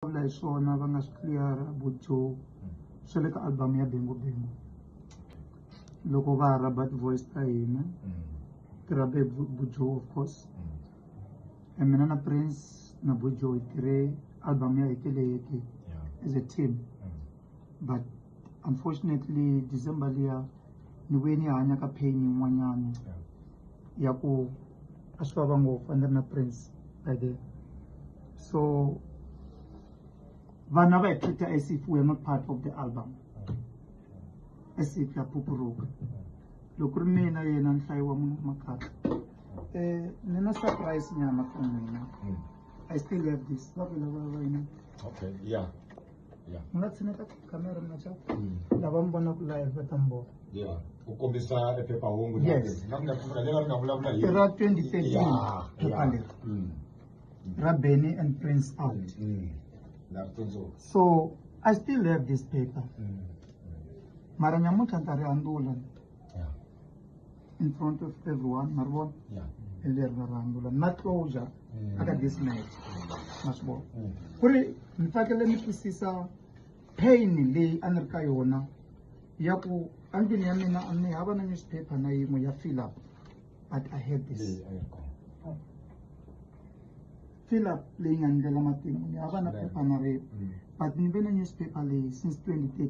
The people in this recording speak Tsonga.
vulavula hi swona va nga swi clear-a Joe swa le ka album ya Bengo Bengo loko va ha rhaba ti-voice ta hina ti rhabe Joe of course and mina na Prince na Joe hi tirhe album ya hetele yeke as a team but unfortunately December liya Ni vuye ni hanya ka pain yin'wanyana ya ku a swi vava ngopfu a ni ri na prince by then so vanhu a va hi treat-a as if we are not part of the album as if ya phupuruka loko ku ri mina yena nhlayo wa munhu makhatla um ni na surprise nyana for n'wina i still have this va vula va va yina Okay, yeah. Yeah. mi nga tshineta tikhamera mi nga xa Mm. lava mi vonaka live va ta mi vona Yeah. Ku kombisa e phephahungu na- Yes. na- na- na- leri nga vulavula hi- i ra 2013 Yeah, phepha yeah. leri Mm. ra benny and prince out Mm. Na ri tsundzuka. so i still have this paper Mm. mara nyamuntlha ni ta ri handula Yeah. in front of everyone maribona Yeah. leri ra vanhu la na closure Mm. aka this match ma swi vona Mm. ku ri ni tsakele ni twisisa pain leyi a ni ri ka yona ya ku endlwini ya mina a ni hava na newspaper na yin'we ya fill up but i had this Leyi a yi ri kona. fill up leyi nga ndlela matimu ni hava na Right. phepha na rin'we Mm. but ni ve na newspaper leyi since 2013